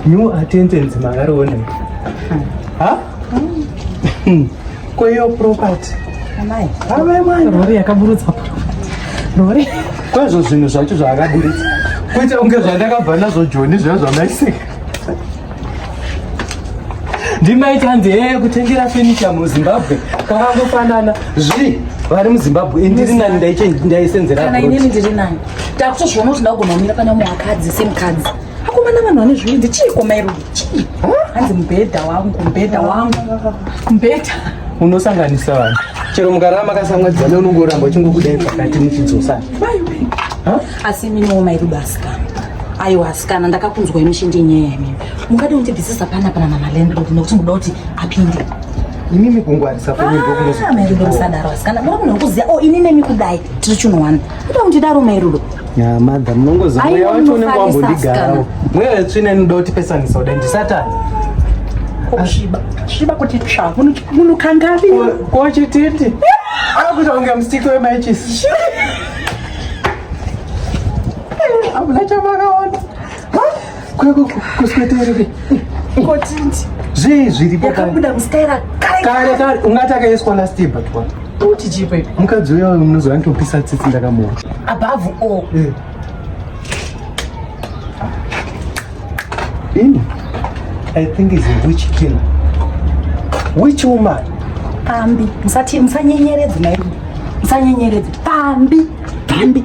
New attendance makarone. Ha? Hmm. Kwa hiyo property. Amai. Amai mwana. Rori yakaburutsa pa. Rori. Kwa hizo zvinhu zvacho zvakaburutsa. Kuita unge zvandakabva nazvo Joni zviya zvamaisika. ndimaiti hanzi hee kutengera fenicha muzimbabwe kwakangofanana zvi vari muzimbabwe ndiri nani ndaisenzeraana inini ndiri nani takutozviona kuti ndakugona kumira pana mumwe akadzi semukadzi akomana vanhu vane zviindi chiiko mairudo chii hanzi mubhedha wangu mubhedha wangu mubhedha unosanganisa vanhu chero mukarava makasamwadzana unongoramba uchingokudai pakati muchidzosana asi iminiwo mairudo asikana aiwa asikana ndakakunzwai muchindi nyaya yamimi mungadi undibvisisa pana pana mama landlord nekuti muda kuti apinde imimi kungwarisa kwenyimbokumairudo ah, musadaro asikana mura munhu wekuziva o oh, ini nemi kudai tiri chunowana kuda kundidaro mairudo ya madha munongoziva mweya wacho unenge wambondigarawo mweya wetsvina inoda kuti pesanisa kudai ndisatani kusviba sviba kuti tsva munhu kangavi kochititi akuita kunge musiki wemaichisi hamuna chamakaona kusweterere kotindi zvii zviripo yakabuda mustaira kare kare ungati akaiswa last year but what uti chipe mukadzi uya munozova nditopisa tsitsi ndakamuona above all eh. ini i think is a witch killer witch woman pambi musanyenyeredze mairi musanyenyeredze pambi pambi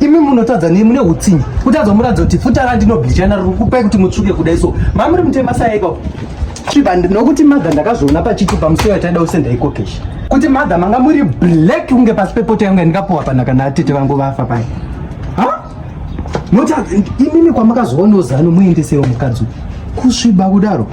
imi munotadza nei mune utsinye kutadza muratidza kuti futa randinoblijana riri kupai kuti mutsvuke kudai so mamuri mutema saya ipapo sviba nokuti madha ndakazviona pachiti pamusiwo yataida usenda ikokesha kuti madha manga muri black kunge pasi pepota yangu yandikapuwa pana kana atete vangu vafa pai noti imimi kwamakazoona uzano muendesewo mukadzi kusviba kudaro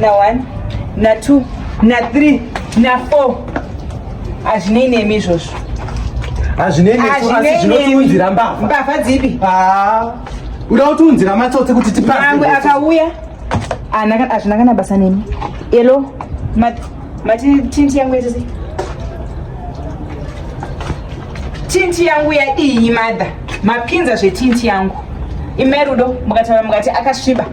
na one na two na three na four hazvinei nemi izvozvo hazvinei nesu asi zvinotiunzira mbavha mbavha dzipi ah, uda kutiunzira matsotsi kuti tipaamwe akauya hazvina kana basa nemi elo mati tinti yangu yese tinti yangu yadii madha mapinza zvetinti yangu imerudo mukataura mukati akasviba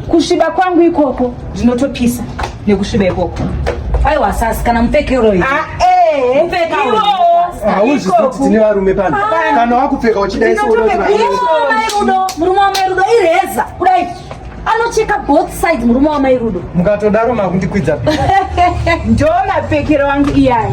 kusviba kwangu ikoko ndinotopisa nekusviba ikoko aiwa sasi kana mupfekeroi ah, eh, mupfeka hauzvisi kuti tine varume pano ah. kana wakupfeka uchidaisoudorudo murume wamairudo ireza kudai anocheka both side murume wamairudo mukatodaro makundikwidza ndoo mapfekero wangu iyaya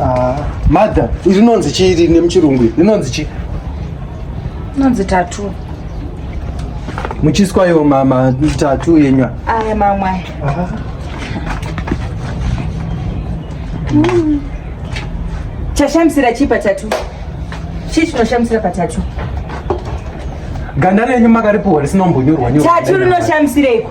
Ah, mother, rinonzi chii rine muchirungu iri? Rinonzi chii? Inonzi tatu. Muchiswa yo mama tatu yenywa. Aya mamwe aya. Ah. Mm. Chashamisira chii patatu? Chii chinoshamisira patatu? Ganda renyu makaripuwa risinombonyorwa nyorwa. Tatu rinoshamisireko.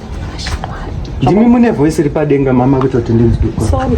Ndimi mune voice ripadenga mama kutoti ndinzwe. Sorry.